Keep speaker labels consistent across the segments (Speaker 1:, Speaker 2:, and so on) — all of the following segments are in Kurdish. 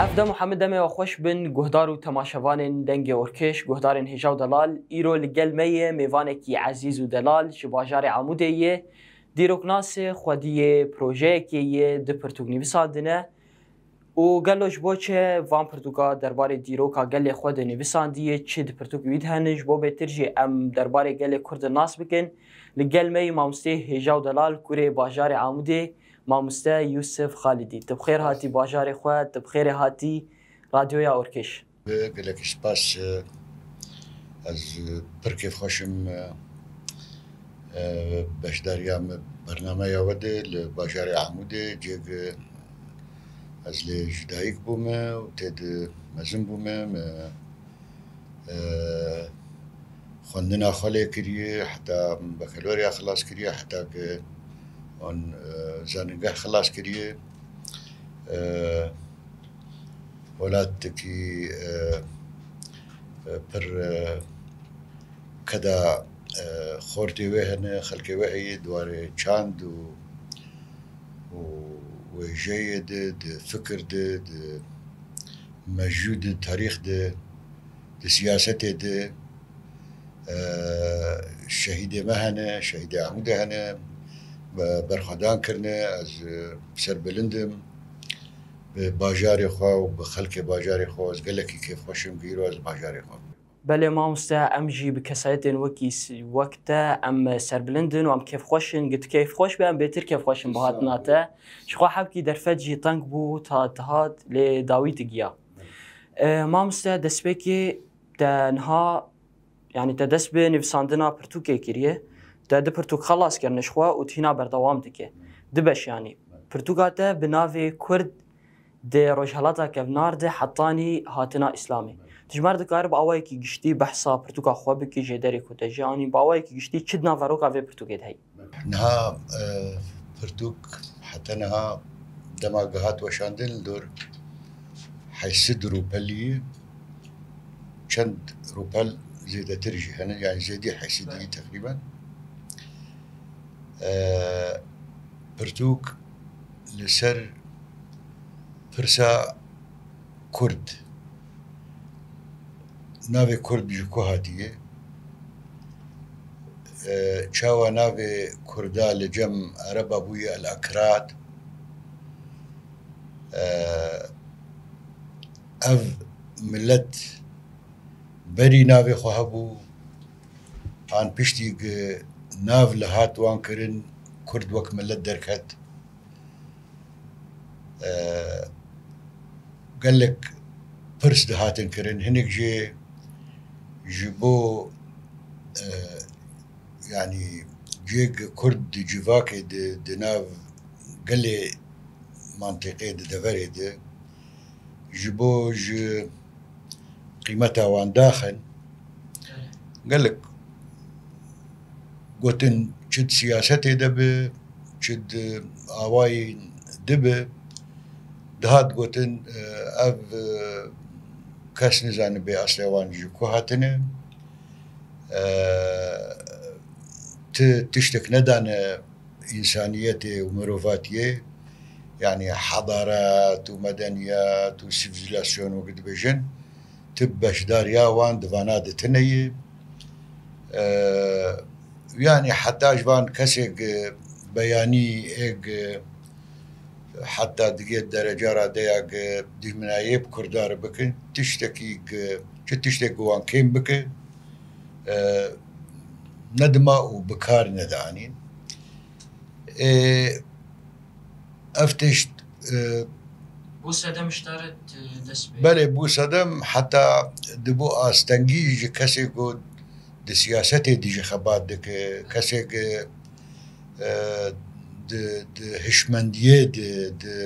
Speaker 1: Ev dem û hemû demê wê xweş bin guhdar û temaşevanên Dengê Orkiş, guhdarên Hêja û Delal. Îro li gel me yê mêvanekî ezîz û delal ji bajarê Amûdê yê. Dîroknasê xwediyê, projeyekê yê, du pirtûk nivîsandine. Û gelo ji bo çi van pirtûka derbarê dîroka gelê xwe de nivîsandiye, çi di pirtûkê wî de hene, ji bo bêtir jî em derbarê gelê Kurd de nas bikin, li gel me yî mamosteyê hêja û delal kurê bajarê Amûdê, mamoste Yûsif Xalidî. Tu bi xêr hatî bajarê xwe, tu bi xêrê hatî Radyoya Orkiş. Gelekî spas
Speaker 2: ez pir kêfxweş im beşdariya me bernameya we de li bajarê Amûdê cê gi ez lê ji dayik bûme û tê di mezin bûme me xwendina xwe lê kiriye heta min bekeloriya xilas kiriye heta ke wan zanîngeh xilas kiriye Welatekî pir qeda xortê wê hene, xelkê wê heye di warê çand û wêjeyê de, di fikir de, di mejû de, di tarîx de, di siyasetê de. Şehîdê me hene, şehîdê Amûdê hene, berxwedan kirine. Ez bi ser bilind im. Bi bajarê xwe û bi xelkê bajarê xwe ez gelekî kêfxweş im ku îro ez li bajarê xwe. Belê mamoste
Speaker 1: em jî bi kesayetên wekî wek te em serbilind in û em kêfxweş in. Got kêfxweş be em bêtir kêfxweş in bi hatina te. Ji xwe hevkî derfet jî teng bû ta dihat lê dawî digiya. Mamoste destpêkê te niha Yanî te dest bi nivîsandina pirtûkê kiriye, te du pirtûk xelas kirine ji xwe û tu hîna berdewam dike. Du beş yanî, pirtûka te bi navê Kurd di Rojhilata Kevnar de hetanî hatina Îslamê. Dijmer dikare bi awayekî giştî behsa pirtûka xwe bike jê derê ku te jê anî, bi awayekî giştî çi di nav veroka vê pirtûkê de heye? Niha
Speaker 2: pirtûk heta niha dema ku hat weşandin li dor heysid rûpeliyê çend rûpel zêdetir jî hene yanî zêdî heysidî teqrîben pirtûk li ser pirsa Kurd, navê Kurd ji ku hatiye? Çawa navê Kurda li cem Ereba bûye El Akrad? Ev milet berî navê xwe hebû an piştî gi nav li hat wan kirin Kurd wek milet derket? gelek pirs dihatin kirin hinek jê ji bo yanî cihek kurd di civakê di di nav gelê mantîqê di deverê di ji bo ji qîmeta wan daxin gelek Gotin çi di siyasetê de be, çi di awayên di be, dihat gotin ev kes nizanibê eslê wan ji ku hatine, ti tiştek nedane însaniyetê û mirovatiyê, yanî hedaret û medeniyet û sivîlasyon wekî dibêjin. Tu beşdariya wan di vana de tune yî. Yanî heta ji van kesek beyanî êk heta digê dereca ra de ya ke dîjminayê bi kurdan re bikin tiştekî ke çi tiştek bi wan kêm bike nedima û bi kar nede anîn. Ê Ev tişt
Speaker 1: e, Bo sedem ji te re dest pê. Belê bo sedem
Speaker 2: heta di bo astengî ji kesê ku di siyasetê dijî xebat dike, kesê ku di hişmendiyê di di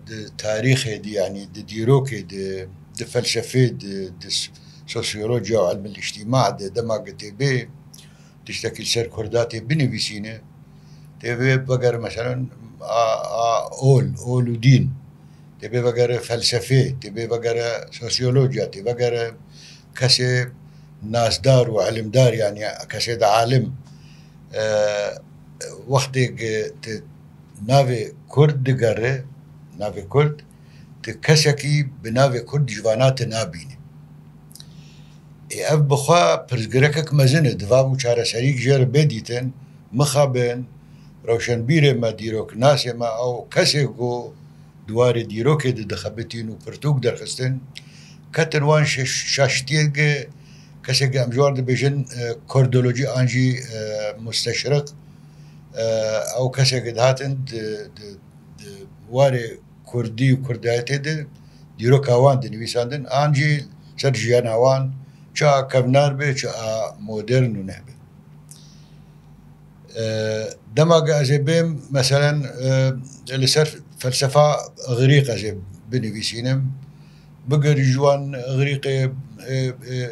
Speaker 2: di tarîxê di yanî di dîrokê di di felsefê di di sosyolojiya û elmîl îctîma di dema ku tê bê Tiştekî li ser Kurda tê binivîsîne, tê vê vegere meselen a a ol, ol û dîn, tê vê vegere felsefê, tê vê vegere sosyologya, tê vegere kesê nasdar û ilimdar yanî kesê di alim wextê ki tu navê Kurd digere, navê Kurd, tu kesekî bi navê Kurd ji vana tu nabînî. Ê ev bi xwe pirsgrekek mezin e, divabû çareserîk jê re bê dîtin, mixabin, rewşenbîrê me, dîroknasê me ew kesê ku di warê dîrokê de dixebitîn û pirtûk derxistin, ketin wan şaştiyeke kesê ku em ji wan dibêjin kurdolojî an jî musteşrik ew kesê ku dihatin di warê Kurdî û kurdayetê de dîroka wan tê nivîsandin an jî li ser jiyana wan çi a kevnar be çi a modern û neh be. Dema ge ez ê bêm meselen li ser felsefa Îgrîk ez ê binivîsînim bigir ji wan Îgrîkê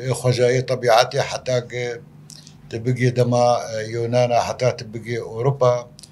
Speaker 2: ê xwezayê tebîetê heta ge tu bigê dema Yûnan a heta tu bigê Ewropa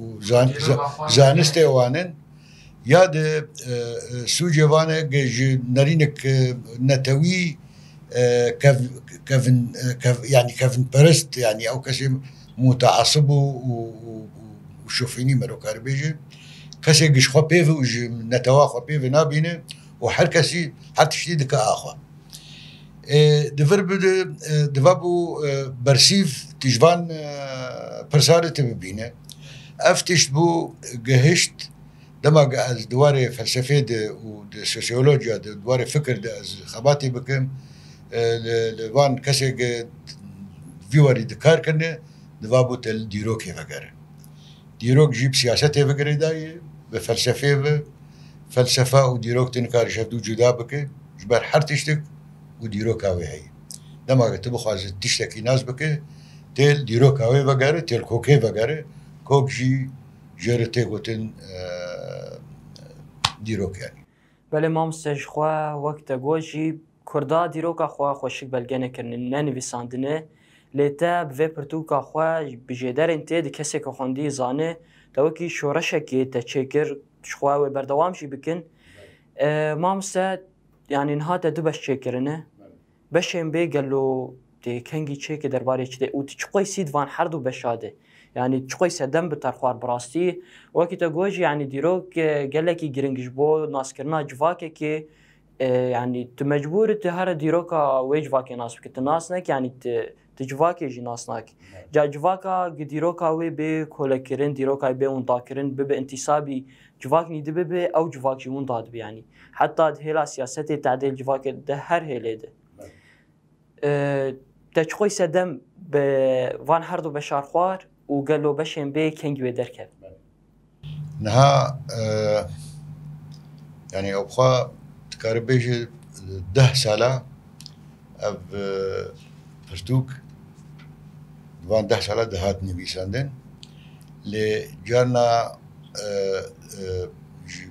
Speaker 2: û zanistê wan in ya di sûcê van e ku ji nerînek netewî yanî kevinperest yanî ew kesê mûteesib û şofînî me dikare bêje kesê ku ji xwe pêv e û ji netewa xwe pêve nabîne û her kesî her tiştî dike axa. Di vir bi di diva bû bersîv tîj van pirsarê te bibîne. Ev tişt bû gihişt dema ge ez di warê felsefê de û di sosyolojiya de di warê fikir de ez xebatê bikim li li van kesê ge vî warî dikar kirine diva bû te li dîrokê vegere. Dîrok jî bi siyasetê ve girêdayî ye, bi felsefeyê ve. Felsefe û dîrok tu nikarî ji hev dû cuda bikî ji ber her tiştik û dîroka wê heye. Dema ke tu bixwazî tiştekî nas bikî tê li dîroka wê vegerî, tê li kokê vegerî. Kok jî jê re tê gotin dîrok yanî. Belê mamoste
Speaker 1: ji xwe wek te got jî Kurda dîroka xwe xweşik belge nekirine, ne nivîsandine, lê te bi vê pirtûka xwe bi jêderên tê di kesê ku xwendiyî zane, te wekî şoreşekê te çêkir, ji xwe wê berdewam jî bikin. Mamoste yanî niha te du beş çêkirine. Beşên bê gelo tê kengî çêkê derbarê çi tê û tu çi qoysî di van herdu beşa de. Yanî çi qoyse dem bi ter xwar bi rastî. Wekî te got jî yanî dîrok gelekî giring ji bo naskirina civakekê, Yanî tu mecbûr i tu here dîroka wê civakê nas bikî. Tu nas nekî yanî tu tu civakê jî nas nakî. Ca civaka gi dîroka wê bê kolekirin, dîrokayê bê windakirin, bibe intîsabî civak nî dibibe ew civak jî winda dibe yanî. Heta di hêla siyasetê tadêl civakê de her hêlê de. Te çiqoy sedem bi van herdu beşarxwar û gelo beşên bê kengî wê derket.
Speaker 2: Niha yanî ew xwe dikarî bêjî deh sala ev pirtûk di van deh sala de hat nivîsandin lê carna ji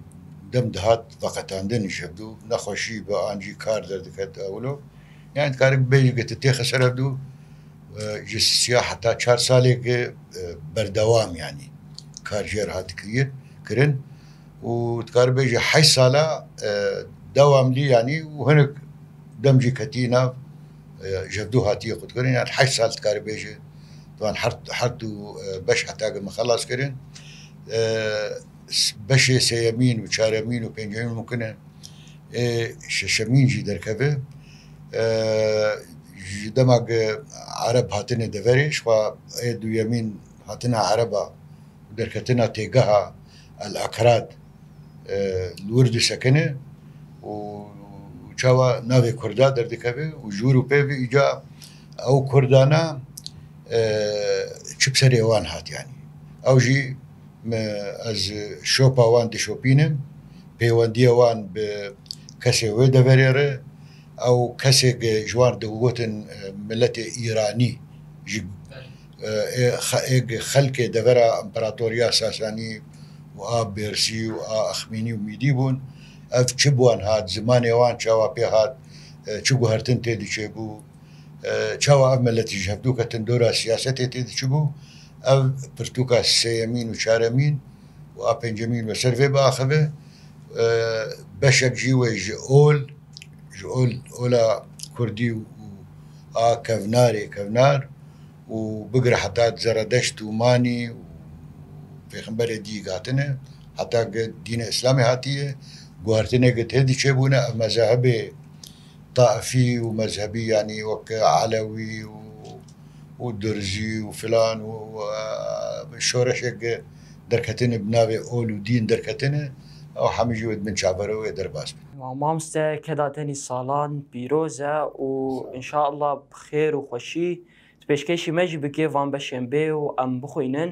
Speaker 2: dem dihat veqetandin îşev dû nexweşî be an jî kar derdiket ewilo yanî dikarî bêjî ke tu têxe ser ev dû Ji sîya heta çar salê ke berdewam yanî kar jê re hat kir kirin û dikaribe ji heşt sala dewamlî yanî û hinek dem jî ketî nav jevdû hatîye xwe dikirin yan heşt sal dikaribe ji wan her her du beş heta ke min xelas kirin beşê sêyemîn û çaremîn û pêncemîn mûkin e ê şeşemîn jî derkeve. ji dema ku Ereb hatine deverê jixwe ê duyemîn hatina Ereb a û derketina têgeha El Ekrad li wir disekine û çawa navê Kurda derdikeve û ji wir û pê ve îca ew Kurdana çi bi serê wan hat yanî ew jî Me ez ji şopa wan dişopînim, pêwendiya wan bi kesê wê deverê re, ew kesêk e ji wan digotin miletê Îranî ji êk xelkê devera Împeratoriya Sasanî û a Bêrsî û a Axmînî û Mîdî bûn. Ev çi bi wan hat, zimanê wan çawa pê hat, çi guhertin tê diçêbû? Çawa ev meletî ji hevdoka tindora siyasetê tê diçibû, ev pirtûka sêyemîn û çaremîn û a pêncemîn bi ser vê biaxive. Beşek jî wê ji ol, ji ol, ola kurdî û a kevnarê, kevnar û bigire heta zeredeşt û manî û pêxemberê dîyîk hatine, heta dîna îslamê hatiye, guhertineke tê diçebûne, ev mezahibê, taifî û mezhebî yanî wek elewî û durzî û filan û şoreşek derketine bi navê ol û dîn derketine ew hemî jî wê di bin çavera wê derbas bin. Mamoste keda
Speaker 1: tenî salan pîroz e û înşallah bi xêr û xweşî di pêşkêşî me jî bikê van beşên bê û em bixwînin.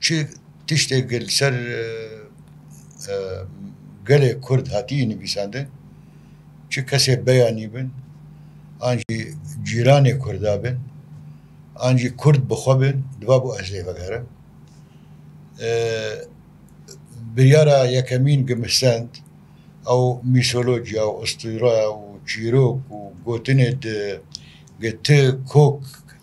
Speaker 2: Çi tiştê ku li ser gelê Kurd hatiye nivîsandin, çi kesê beyanî bin, an jî cîranê Kurda bin, an jî Kurd bi xwe bin, divabu ez lê vegerim. Biryara yekemîn ku min stend, ew mîtholojya û ustûre û çîrok û gotinê di ku ti kok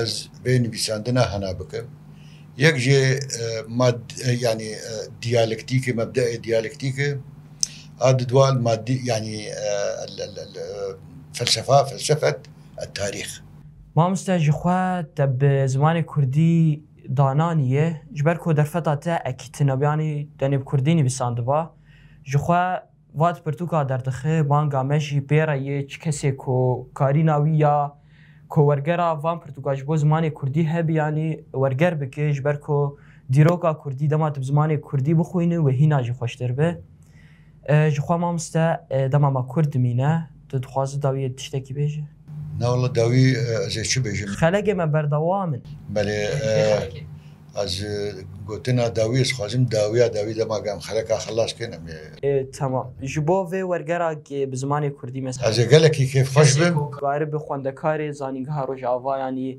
Speaker 2: Ez vê nivîsandina hena bikim. Yek jê mad yanî diyalektîkê mebdeê diyalektîkê a di dual madî yanî felsefa felsefet e tarîx. Mamoste
Speaker 1: ji xwe te bi zimanê kurdî dananîye ji ber ku derfeta te ekî tine biyanî tenê bi kurdî nivîsandiba ji xwe. Vat pirtûka derdixe banga me jî pê re yê çi kesê ku karîna wî ya ku wergera van pirtûka ji bo zimanê kurdî hebî yanî werger bike ji ber ku dîroka kurdî dema tu bi zimanê kurdî bixwînî wê hîna jî xweştir be. Ji xwe mamoste dema me kurd dimîne. Tu dixwazî dawiyê tiştekî bêje? Na walla dawî
Speaker 2: ez ê çi bêjim. Xelekê me berdewam
Speaker 1: in. Belê
Speaker 2: ez gotina dawî ez xwazim dawiya dawî dema ke em xeleka xelas kên em ê. Temam.
Speaker 1: Ji bo vê wergera ke bi zimanê kurdî mes. Ez ê gelekî kêfxweş
Speaker 2: bim. Karibi xwendekarê
Speaker 1: Zanîngeha Rojavayan î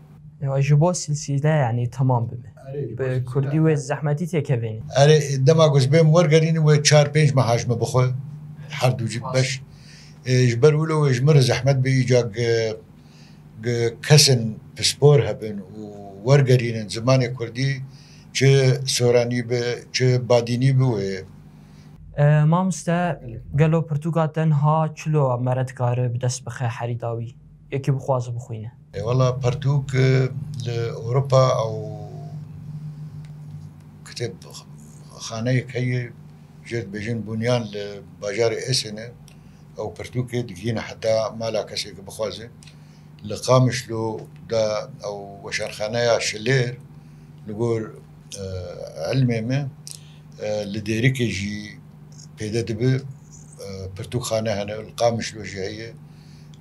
Speaker 2: Ewa ji bo
Speaker 1: silsîle yanî temam bibe. Bi kurdî wê zehmetî tê kevêne. Erê dema ku
Speaker 2: ji bê min wergerînî wê çar pênc meha ji min bixwe her du jî beş ji ber wilo wê ji min re zehmet bê îca kesên pispor hebin û wergerînin zimanê kurdî çi soranî bi çi badînî bi wê
Speaker 1: Mamoste gelo pirtûka te niha çilo mere dikare bi dest bixe herî dawî? Yekî bixwaze bixwîne. E wala pertûk
Speaker 2: li Ewropa ew kitêbxaneyek heye jê dibêjin bûniyan li bajarê Esenê ew pirtûkê digihîne heta mala kesê ke bixwaze. Li Qamişlo de ew weşanxaneya Şilêr li gor ilmê me li Dêrikê jî pêde dibe pirtûkxane hene li Qamişlo jî heye.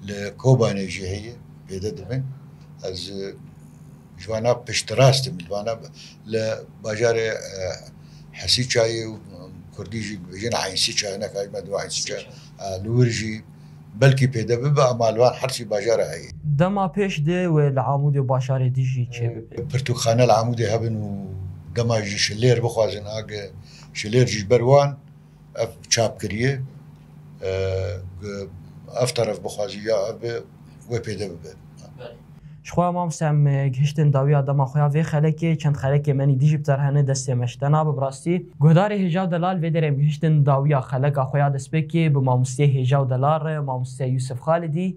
Speaker 2: li Kobanê jî heye pêde dibin. Ez ji wan a piştrast im, ji wan a li bajarê Hesîçayê û kurdî jî dibêjin Eynsîça hinek a ji me dibe Eynsîça li wir jî belkî pêde bibe ema li van hersî bajar a heye. Dema pêş dê
Speaker 1: wê li Amûdê û bajarê dî jî çêbibe. Pirtûkxane li Amûdê
Speaker 2: hebin û dema jî şilêr bixwazin age şilêr jî ji ber wan. Ev çap kiriye ku ev teref bixwazî ya ev be wê pêde bibe. Belê. Jixwe
Speaker 1: mamoste em gihiştin dawiya dema xwe ya vê xelekê çend xelekê menî dijî bi terhe ne destê me ji te nabe bi rastî. Guhdarê Hêja û Delal vê derê em gihiştin dawiya xeleka xwe ya destpêkê bi mamoste Hêja û Delal re mamoste Yûsif Xalidî,